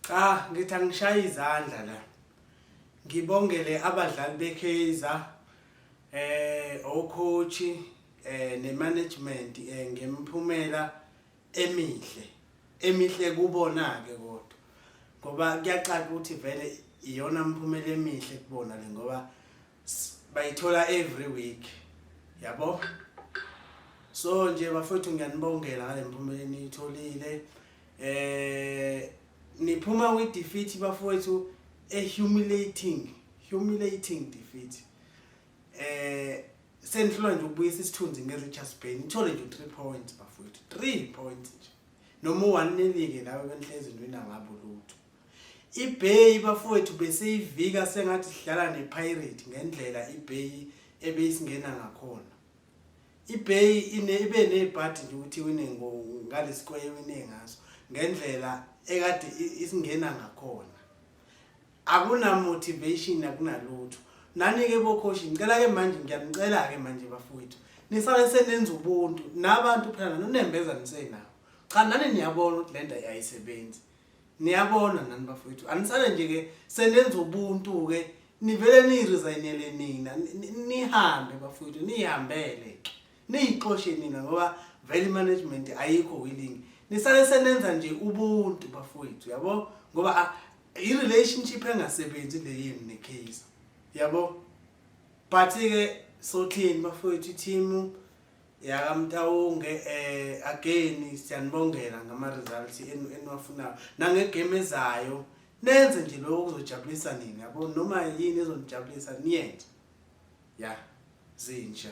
cha ngithi angishaye izandla la ngibongele abadlali beKaizer eh ocoach eh nemanagement eh ngemphumela emihle emihle kubona ke kodwa ngoba kuyacaca ukuthi vele iyona mphumela emihle kubona le ngoba bayithola every week yabo so nje bafowethu ngiyanibongela ngale mphumela eniyitholile eh niphuma with defeat bafowethu a humiliating humiliating defeat eh senihlula nje ukubuyisa isithunzi nge-richards bay nithole nje u-three points bafowethu three points nje noma u-one nilike lawe benihlezi nwina ngabo lutho IBay bafowethu beseyivika sengathi sidlala nePirate ngendlela iBay ebeyisingena ngakhona. IBay ine ibe nezibhathi nje ukuthi wine ngalesikweye wine ngaso ngendlela ekade isingena ngakhona. Akuna motivation akunalutho. Nani ke bokhoshi ngicela ke manje ngiyanicela ke manje bafowethu. Nisale senenza ubuntu nabantu phela nonembeza nisenawo. Cha nani niyabona ukuthi lento ayisebenzi. niyabona nani bafowethu anisale nje ke senenza ubuntu ke nivele niyiresignele nina nihambe bafowethu niyihambele ke niyixoshe nina ngoba vele management ayikho willing nisale senenza nje ubuntu bafowethu yabo ngoba i-relationship engasebenzi le yenu necase yabo but-ke sothini bafowethu ithimu yakamtawonge eh again siyanibongela ngama results enu eniwafunayo nangegame ezayo nenze nje lokho kuzojabulisa nini yabo noma yini ezonijabulisa niyenze ya zinja